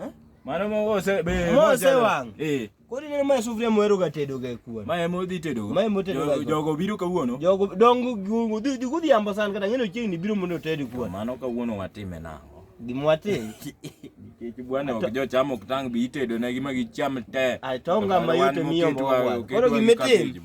Eh? Mano mo ose be mo ose wang. Eh. Kodi ne mae sufria mohero ga tedo ga kuon. Mae mo dhi tedo. Mae mo tedo ga. Jogo biro kawuono. Jogo dongo gungu dhi dhi kudhi ambo san kata ngeno chieng ni biro mondo ted kuon. Mano kawuono watime na. Gimwatim. Kiki bwana ok jo chamo ok tang bi tedo ne gima gicham te. Atonga mayute miyo mo. Koro gimitim.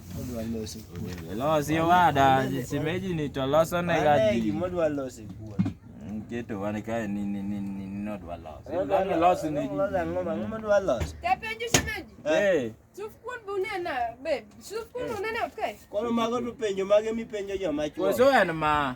Losi wada, simeji ni toloso ne gaji. Gimo dwa losi kuwa. Keto wan kae ni ni ni ni no dwa losi. Dwa losi ne ji. Ngoma ngoma dwa losi. Tapenjo simeji. Eh. Suf kuon bunena be. Suf kuon bunena okay. Kono mago to penjo mage mipenjo joma chuo. Koso en ma.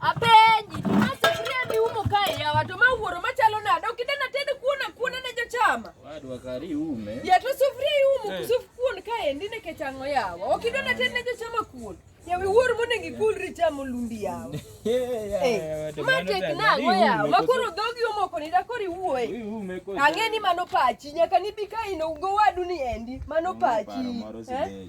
Apenji, ma sufuria ni umo kae ya watu ma wuoro machalo nade? Ok idena ted kuon akuona ne jochama. Wadwa kari ume. Ya to sufuria iumo hey. Suf kuon kae ndi nikech ang'o yawa? Ok idena ted ne jochama kuon. Ya wi wuor mondo ngikulri chamo lumbi yawa. Eh, ma tek nang'o yawa? Ma koro dhogi omoko ni da kori wuoye. Ang'e ni mano pachi nyaka nibi ka ino go wadu ni endi. Mano pachi. Eh?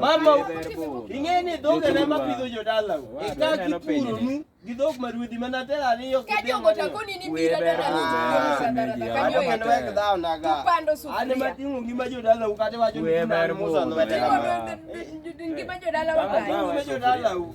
Mama ing'eni dhoge ne ma pidho jodala eka gipuro nu gi dhok ma ruedhi mana tera ariyo an ema ting'o ngima jodala u kata iwacho ni ngima jodala u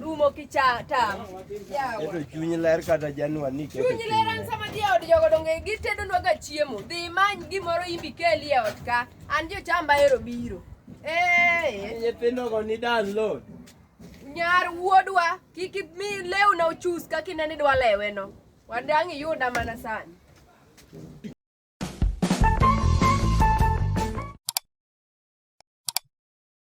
Rumo kicha tam. Keto chuny ler kata Januar ni keto Chuny ler an sama dhi e od jogo donge gitedonwa ga chiemo. Dhi imany gimoro imbi keli e ot ka. An jochamba ero biro. Eh, Nyithindogo ni download. nyar wuodwa kik mi lewna ochus kaka ineno idwa leweno. Wadang' iyuda mana sani.